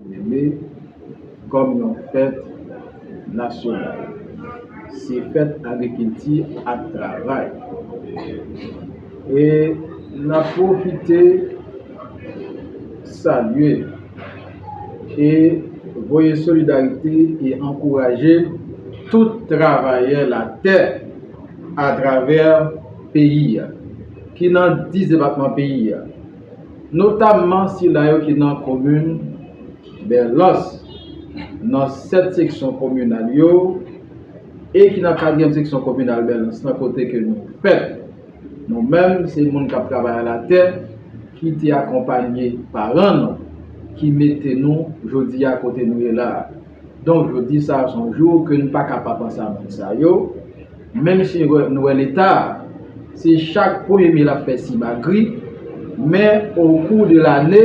Neme kòm yon fèt nasyonal. Se fèt agrikilti ak travay. E n ap pwofite salye e voye solidarite e ankouraje tout travayè latè atravè peyi a, ki nan 10 depatman peyi a. notamman sila yo ki nan komin Bèlòs, nan 7 seksyon kominal yo e ki nan katriyèm seksyon kominal Bèlòs lan kote ke nou fèt. Nou menm se moun k ap travay alatè ki te akonpanye paran nou ki mete nou jodi a kote nou ye la a. Donk jodi sa a se yon jou ke nou pa ka pa panse a moun sa yo. Menm si nou wè leta se chak premye me lap fè simagri men okou de lane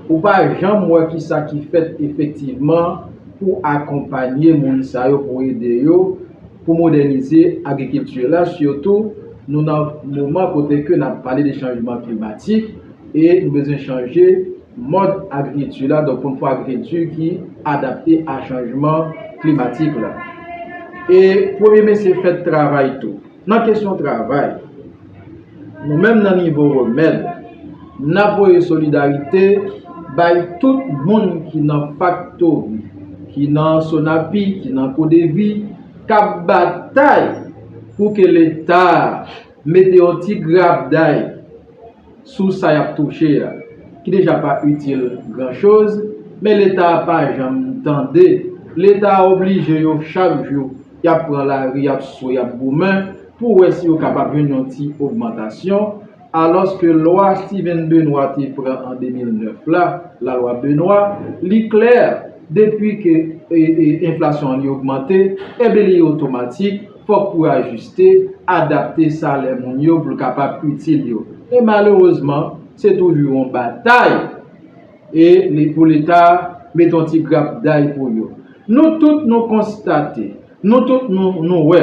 ou pa janm wè kisa ki fèt efektivman pou akonpanye moun sa yo pou ede yo pou modènize agrikilti la sitou nou nan moman kote ke nap pale de chanjman klimatik e nou bezwen chanje Mòd agrikilti la, donk pou n fè agrikilti ki adapte a chanjman klimatik la. E premye mesye fèt travay tou. Nan kesyon travay, nou menm nan nivo remèd, n ap voye solidarite bay tout moun ki nan faktori, ki nan Sonapi, ki nan Kodevi, k ap batay pou ke Leta. Mete yon ti grabday sou sa y ap touche a, ki deja pa itil gran choz, men leta a pa janm tande, leta a oblije yo chak jou y ap pran lari y ap swe y ap goumen pou wè si yo kapab jwenn yon ti ogmantasyon, alòske lwa Stiven Benoit te pran an 2009 la, lalwa Benoit, li klè depi ke enflasyon an li ogmante, enben li otomatik. fòk pou ajiste, adapte salè moun yo pou l kapab itil yo. E malerezman, se toujou yon batay e li pou Leta met yon ti grapday pou yo. Nou tout nou konstate, nou tout nou wè,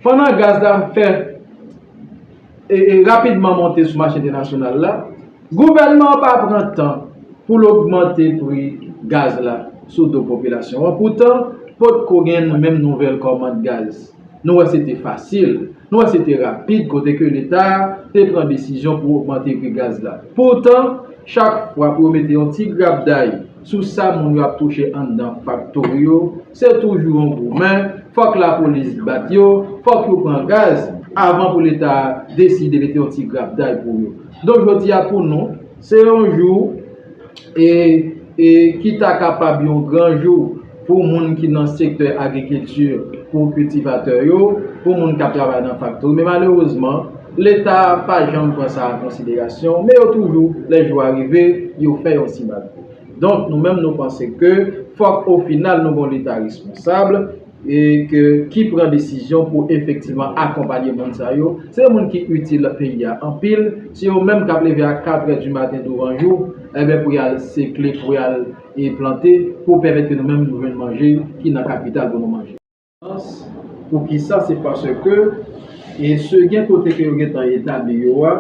pandan gaz la fè. rapidman monte sou mache entènasyonal la, gouvènman an pa pran tan pou l ogmante pri gaz la sou do popilasyon an. Poutan, potko gen menm nouvèl kòmand gaz. Nou wè se te fasil, nou wè se te rapid kote ke Leta te pran desizyon pou ogmante pri gaz la. Poutan, chak fwa pou yo mete yon ti grapday, Sou sa moun yo ap touche anndan faktori yo, se toujou yon goumen, fòk lapolis bat yo, fòk yo pran gaz, avan pou leta deside mete yon ti grapday pou yo. Donk jodi a pou nou, se yon jou e e ki ta kapab yon gran jou. pou moun ki nan sektè agrikilti, pou kiltivatè yo, pou moun k ap travay nan faktori. Men malerezman, Leta pa janm pran sa an konsiderasyon, men yo toujou, lè jou a rive, yo fè yon ti magouy. Donk, nou menm nou panse ke fòk ofinal nou gen yon Leta responsab e ke ki pran desizyon pou efektivman akonpanye moun sa yo. Se moun ki itil peyi a anpil. Se yo menm k ap leve a katrè di maten douvanjou, enben pou y al sekle, pou y al. e plante pou pèmèt ke nou menm nou jwenn manje ki nan kapital pou nou manje. Sans, pou ki sa se paske e se gen kote ke yo gen tan etabli yo a,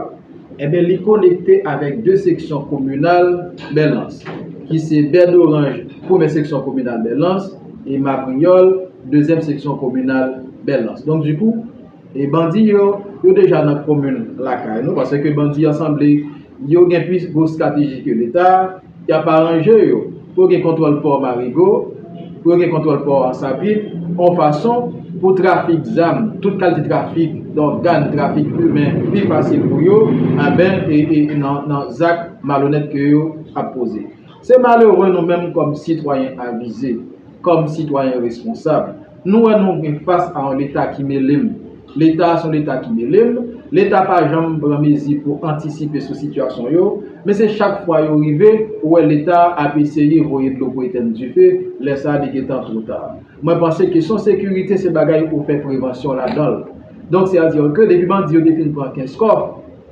enben li konekte avèk 2 seksyon kominal Bèlans, ki se Bèdoranj, premè seksyon kominal Bèlans, e Mabriyòl, dezyèm seksyon kominal Bèlans. Donk di kou, e bandi yo, yo deja nan komin lakay nou, paske bandi an sanble yo gen plis gwo strateji ke Leta. Y ap aranje yo pou yo gen kontwòl pò Marigo, pou yo gen kontwòl pò Ansapit, yon fason pou trafik zam, tout kalite trafik dògàn, trafik imen pi fasil pou yo anben nan zak malonèt ke yo ap poze. Se malere nou menm kòm sitwayen avize, kòm sitwayen responsab. Nou wè nou gen fas a yon leta ki mele m. Leta a se yon leta ki mele m. Leta pa janm pran mezi pou antisipe sou sitiyasyon yo. Men se chak fwa yo rive, ou wè leta a ap eseye voye dlo pou etenn dife, lè sa a li gentan two ta. Mwen panse kesyon sekirite se bagay ou fè prevansyon ladan l. Donk sè a dire ke depi bandi yo te fin pran Kenskòf,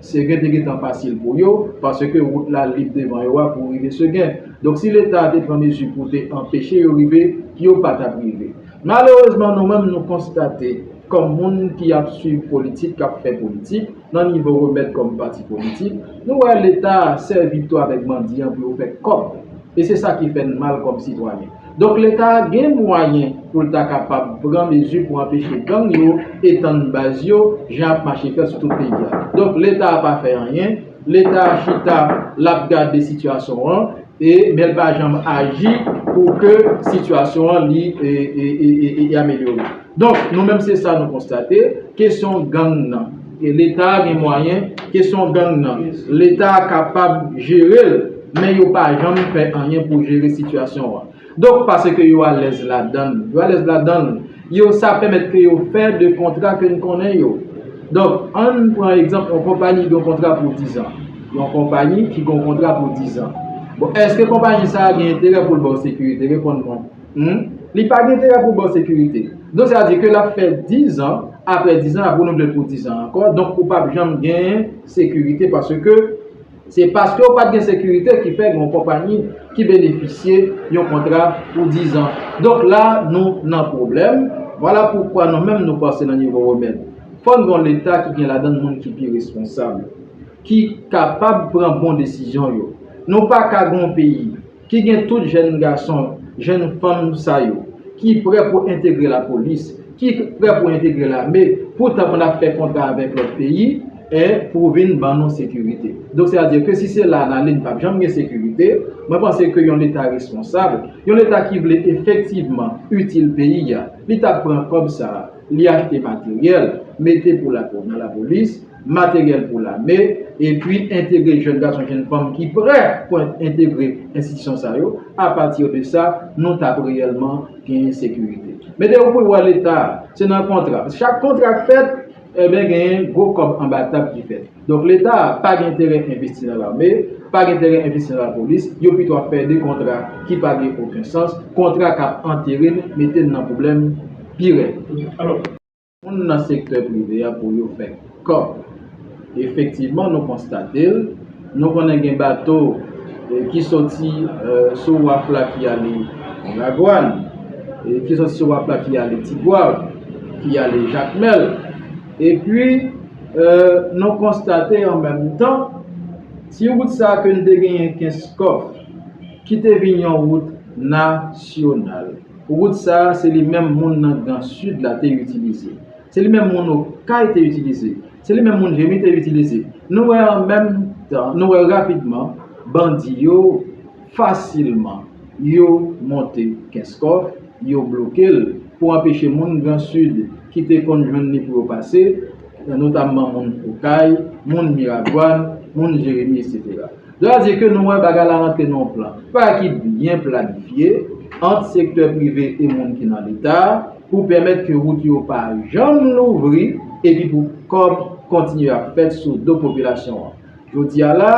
Segen te gentan fasil pou yo, paske wout la lib devan yo a pou rive Segen. Donk si leta a te pran mezi pou te anpeche yo rive, yo pa t ap rive. Malerezman nou menm nou konstate, kòm moun ki ap swiv politik, k ap fè politik, nan nivo remèd kòm pati politik, nou wè leta a sèvi tou avèk bandi an pou yo fè kòb. E se sa ki fè n mal kòm sitwayen. Donk leta a gen mwayen pou l ta kapab pran mezi pou anpeche gang yo etann baz yo jan ap mache fè sou tout peyi a. Donk leta a pa fè anyen, leta a chita l ap gade sitiyasyon an e men l pa janm aji pou ke sitiyasyon an li amelyore. Donk nou menm se sa nou konstate, kesyon gang nan. Leta gen mwayen, kesyon gang nan leta kapab jere l men yo pa janm fè anyen pou jere sitiyasyon an. Donk paske yo alèz ladan l, yo alèz ladan l, yo sa pèmèt ke yo fè de kontra ke n konnen yo. Donk ann pran egzanp yon konpayi gen yon kontra pou dizan, yon konpayi ki gen yon kontra pou dizan. Bon èske konpayi sa a gen enterè pou l ba w sekirite? Reponn mwen. Humm li pa gen enterè pou baw sekirite donk sa vle di ke lap fè 10 an aprè 10 an ap renouvlel pou 10 an ankò donk ou pap janm gen sekirite paske se paske ou pat gen sekirite ki fè gen yon konpayi ki benefisye yon kontra pou 10 an donk la nou nan pwoblèm vwala poukwa nou menm nou pase nan nivo remèd fò n gen yon leta ki gen ladann moun ki pi responsab ki kapab pran bon desizyon yo nou paka gen yon peyi. ki gen tout jèn gason, jèn fanm sa yo, ki prè pou entegre lapolis, ki prè pou entegre lame, pou ta konn ap fè kontra avèk lòt peyi, e pou vin ban nou sekirite. Donk se a di ke si se la n ale n pap janm gen sekirite, mwen panse ke yon leta responsab, yon leta ki vle efektivman itil peyi a, li tap pran kòb sa a, li achte materyèl, mete pou lapolis, materyèl pou lame, epi entegre jèn gason, jèn fanm ki prè pou entegre enstitisyon sa yo, apati de sa, nou t ap reyèlman genyen sekirite. Mete yo pou l wè Leta, se nan kontra, paske chak kontra k fèt, enben genyen gwo kòb anba tab ki fèt. Donk Leta pa gen enterè envesti nan lame, pa gen enterè envesti nan lapolis, yo pito ap fè de kontra ki pa gen oken sans, kontra k ap antere n, mete n nan pwoblèm pi rèd. moun nan sektè prive a pou yo fè kòb. Efektivman nou konstate l, nou konnen gen bato ki soti sou waf la ki ale Miragwàn, ki soti sou waf la ki ale Tigwav, ki ale Jakmèl. Epi nou konstate an menm tan, ti wout sa a ke n te genyen Kenskòf ki te vin yon wout nasyonal. Wout sa a se li menm moun nan gran Sid la te itilize. Se li menm moun Okay te itilize. Se li menm moun Jemmy te itilize. Nou wè an menm tan, nou wè rapidman, bandi yo fasilman yo monte Kenskòf, yo bloke l pou anpeche moun gran Sid ki te konn jwenn li pou yo pase, notamman moun Okay, moun Miragwàn, moun Jeremi, eksetera. Lè a di ke nou wè bagay la rantre nan yon plan pa ki byen planifye ant sektè prive e moun ki nan leta pou pèmèt ke wout yo pa janm louvri epi pou kòb kontinye ap fèt sou do popilasyon an. Jodi a la,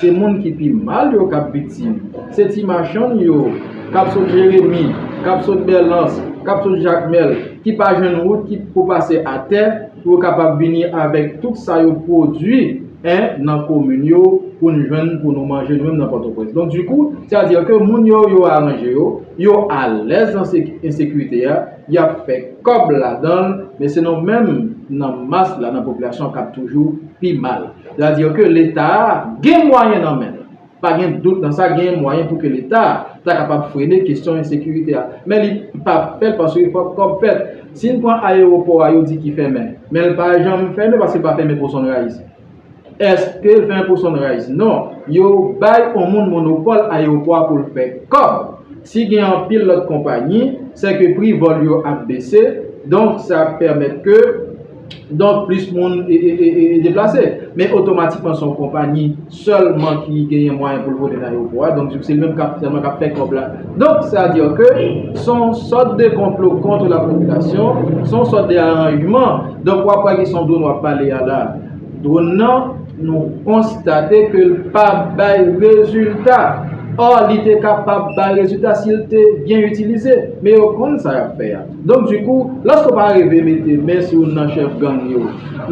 se moun ki pi mal yo k ap viktim. Se ti machann yo k ap sot Jeremi, k ap sot Bèlans, k ap sot Jakmèl ki pa jwenn wout ki pou pase atè, Pou yo kapab vini avèk tout sa yo pwodui en nan komin yo pou n jwenn pou nou manje nou menm nan Pòtoprens. Donk dikou, sè a di ke moun yo, yo aranje yo, yo alèz nan ensekirite a, y ap fè kòb ladan l, men se nou menm nan mas la, nan popilasyon an k ap toujou pi mal. Sè a di ke Leta a gen mwayen nan men l. Pa gen dout nan sa, genyen mwayen pou ke Leta ta kapab frene kesyon ensekirite a. Men li pa fè l paske fòk kòb fèt. Si n pran ayewopò a yo di ki fèmen. Men l pa janm fèmen paske l pa fèmen pou Sunrise. Èske l fèmen pou Sunrise? Non. Yo bay on moun monopòl ayewopò a pou l fè kòb. Si gen anpil lòt konpanyi, sèke pri vòl yo ap bese. Donk sa pèmèt ke. Donk plis moun deplase. Men otomatikman se yon konpayi sèlman ki genyen mwayen pou l vole nan ayewopò a. Donk se li menm sèlman k ap fè kòb la. Donk sa di ke se yon sòt de konplo kont lapopilasyon, se yon sòt de aranjman. Donk w ap wè ki se yon dron w ap pale a la. Dron nan nou konstate ke l pa bay rezilta. Ò li te kapab bay rezilta si l te byen itilize. Men yo konn sa y ap fè a. Donk di kou, lòske w pa arive mete men sou youn nan chèf gang yo,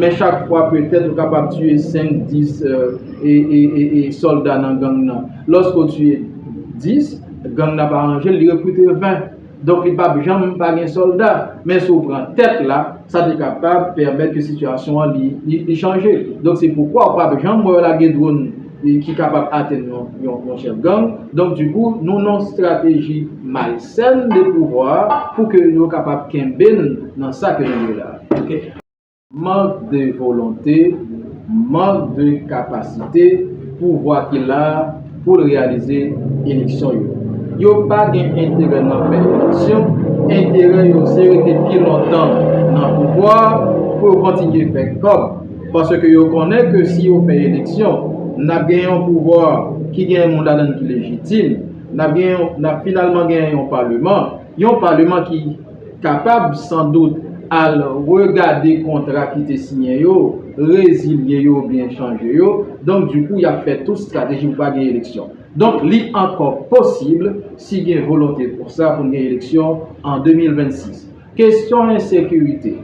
men chak fwa petèt ou kapab tiye 5, 10 e sòlda nan gang nan. Lòske w tiye 10, gang nan ap aranje l, li rekrite 20. Donk li pap janm pa gen sòlda. Men si w pran tèt la, sa te kapab pèmèt ke sitiyasyon an li chanje. Donk se poukwa ou pap janm wè yo lage dronn. ki kapab atenn yon chèf gang, donk di kou nou nan yon strateji malsèn de pouvwa pou ke yo kapab kenbe n nan sa ke nou ye la. Mank de volonte, mank de kapasite pouvwa ki la pou l reyalize eleksyon yo. Yo pa gen enterè nan fè eleksyon, enterè yo se rete pi lontan nan pouvwa pou yo kontinye fè kòb. Paske yo konnen ke si yo fè eleksyon, n ap gen yon pouvwa ki gen moun ladan l ki lejitim, n ap gen yon, n ap finalman gen yon paleman, yon paleman ki kapab san dout al regade kontra ki te siyen yo, rezilye yo oubyen chanje yo, donk di kou y ap fè tout strateji pou pa gen eleksyon. Donk li ankò posib, si gen volonte pou sa, pou n gen eleksyon an 2026. Kesyon ensekirite.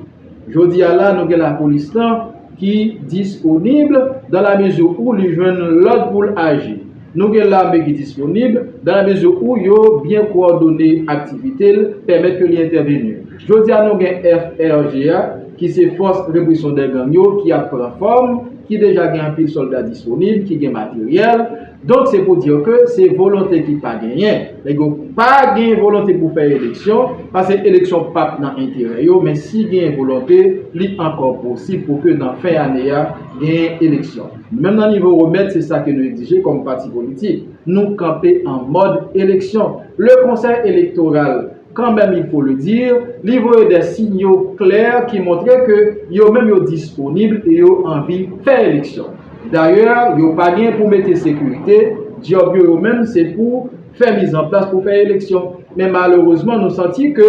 Jodi a la nou gen lapolis lan ki disponib dan la mezi ou li jwenn lòd pou l aji. Nou gen lame ki disponib dan la mezi ou yo byen kowòdone aktivite l, pèmèt ke li entèveni. Jodi a nou gen FRG a ki se fòs represyon dè gang yo ki ap pran fòm, ki deja gen anpil sòlda disponib, ki gen materyèl. Donk se pou dir ke se volonte ki pa genyen. Nèg yo pa gen volonte pou fè eleksyon, pase eleksyon pap nan enterè yo, men si genyen volonte, li ankò posib pou ke nan fen ane a, genyen eleksyon. Menm nan nivo remèt, se sa ke nou egzije kòm pati politik. Nou kanpe an mòd eleksyon. Le konsèy elektoral. Quand même il faut le dire, li voye des signaux clairs ki montre ke yo menm yo disponib e yo anvi fè eleksyon. D'ailleurs, yo pa gen pou mete sekirite, djòb yo yo menm se pou fè mizanplas pou fè eleksyon. Men malerezman nou santi ke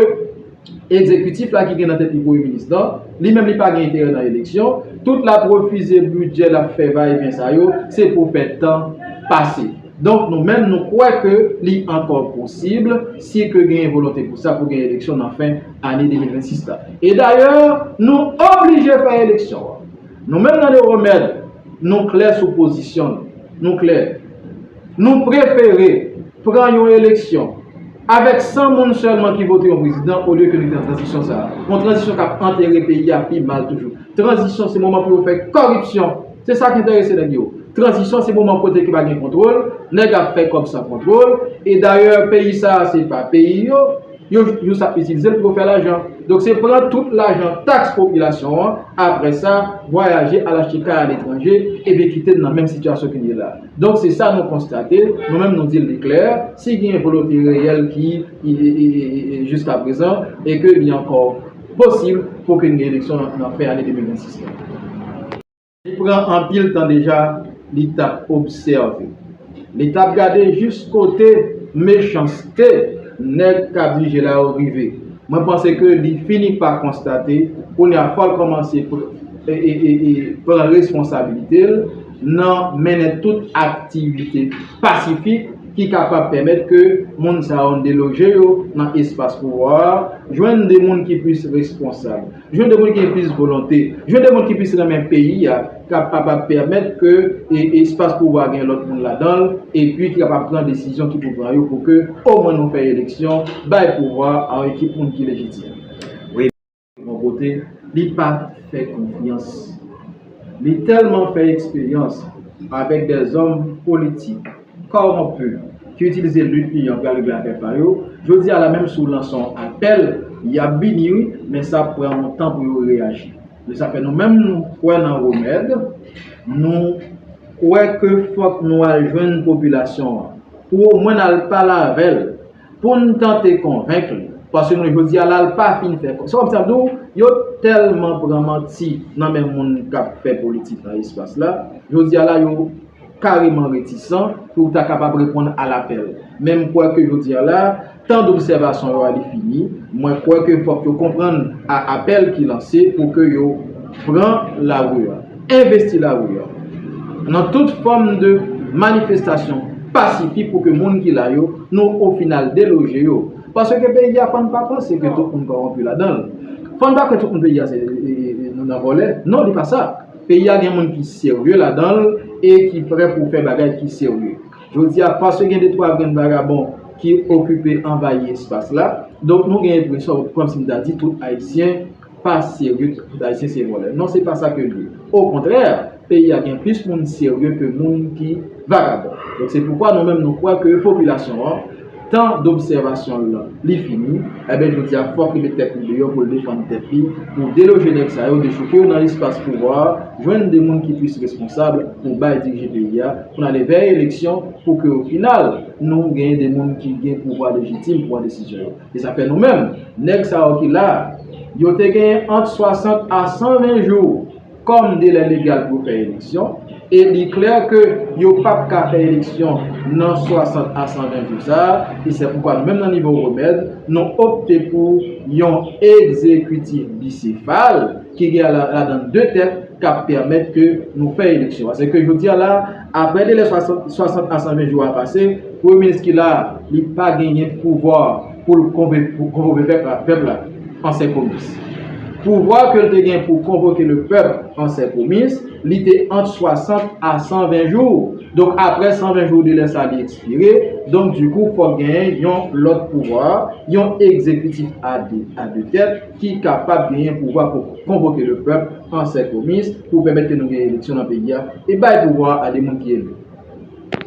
ekzekitif la ki gen nan tèt li premye minis lan, li menm li pa gen enterè nan eleksyon, tout l'ap refize bidjè, l'ap fè va e vyen sa yo, se pou fè tan pase. Donk nou menm nou kwè ke li ankò posib, si ke genyen volonte pou sa, pou gen eleksyon nan fen ane 2026 la. E dayè, nou oblije fè eleksyon an. Nou menm nan Le Remède, nou klè sou pozisyon nou. Nou klè. Nou prefere pran yon eleksyon avèk 100 moun sèlman ki vote yon prezidan olye ke nou gen tranzisyon sa a. Yon tranzisyon k ap antere peyi a pi mal toujou. Tranzisyon se moman pou yo fè koripsyon. Se sa ki enterese nèg yo. Tranzisyon se moman kote ki pa gen kontwol, nèg ap fè kòb san kontwol, e dayè peyi sa a se pa peyi yo, yo jis ap itilize l pou yo fè lajan. Donk se pran tout lajan taks popilasyon an, aprè sa vwayaje al achte kay aletranje epi kite n nan menm sitiyasyon ke n ye la. Donk se sa nou konstate, nou menm nou di li klè, si gen volonte reyèl ki jiskaprezan e ke li ankò. posib pou okenn gen eleksyon nan fen ane 2026 la. Li pran anpil tan deja li t ap obsève, li t ap gade jis kote mechanste nèg k ap dirije la yo rive. Mwen panse ke li fini pa konstate kounye a fò l kòmanse pran responsabilite l nan mennen tout aktivite pasifik, ki kapab pèmèt ke moun sa yo deloje yo nan espas pouvwa a, jwenn de moun ki plis responsab, jwenn de moun ki gen plis volonte, jwenn de moun ki plis renmen peyi a, kap kapab pèmèt ke espas pouvwa a gen lòt moun ladan l, epi ki kapab pran desizyon ki pou pran yo pou ke omwen nou fè eleksyon, bay pouvwa a yon ekip moun ki lejitim. Bon kote li pat fè konfyans. Li tèlman fè eksperyans avèk dè zòm politik kòwonpi ki itilize lit li an pou yal regle afè pa yo, jodi a la menm si w lanse yon apèl yap vini wi men sa ap pran yon tan pou yo reyaji. Se sa k fè nou menm nou kwè nan remèd, nou kwè ke fòk nou al jwenn popilasyon an pou omwen n al pale avè l Pou n tante konvenk li. Paske nou jodi a la l pa fin fè kòb. Se kòm si nap di w yo tèlman pran manti nan men moun kap fè politik nan espas la, jodi a la yo kareman retisan pou ta kapab reponn a lapèl. Men m kwè ke jodi a la, tan dobsèvasyon yo a li fini. Mwen kwè ke fòk yo konprann a apèl ki lanse pou ke yo pran lari a. Envesti lari a nan tout fòm de manifestasyon pasifik pou ke moun ki la yo, nou ofinal deloje yo. Paske peyi a fò n pa panse ke tout moun kòwonpi ladan l. Fò n pa kwè tout moun peyi a se nan vòlè. Non li pa sa. Peyi a gen moun ki serye ladan l e ki prè pou fè bagay ki serye. Jodi a paske gen de twa grenn vagabon ki okipe anvayi espas la, donk nou gen enpresyon kòmsi m ta di tout Ayisyen, pa serye ke tout ayisyen se vòlè non se pa sa ke li ye o kontrè peyi a gen plis moun serye ke moun ki vagabon donk se poukwa nou menm nou kwè ke popilasyon an tan dobsèvasyon l lan li fini enben jodi a fòk li met tèt li deyò pou l defann tèt li pou deloje nèg sa yo dechouke yo nan espas pouvwa a jwenn de moun ki plis responsab pou bay dirije peyi a pou n ale vè eleksyon pou ke o final nou gen de moun ki gen pouvwa lejitim pran desizyon yo. E sa fè nou menm, nèg sa yo ki la, yo te genyen ant 60 a 120 jou kòm delè legal pou fè eleksyon, e li klè ke yo pa p ka fè eleksyon nan 60 a 120 jou sa a, e se poukwa nou menm nan nivo remèd, nou opte pou yon egzekitif bisefal, ki gen ladan 2 tèt, k ap pèmèt ke nou fè eleksyon. Asèke jodi a la. Aprè delè 60 a 120 jou a pase, premye minis ki la a, li pa genyen pouvwa pou l konvoke pèp la, pèp la an sè komis. Pouvwa ke l te gen pou konvoke le pèp an sè komis, li te ant 60 a 120 jou. Donk aprè 120 jou delè sa li ekspire, donk dikou fòk genyen yon lòt pouvwa, yon egzekitif a 2 tèt, ki kapab genyen pouvwa pou konvoke le pèp an sè komis pou pèmèt ke nou gen eleksyon nan peyi a e bay pouvwa a de moun ki eli.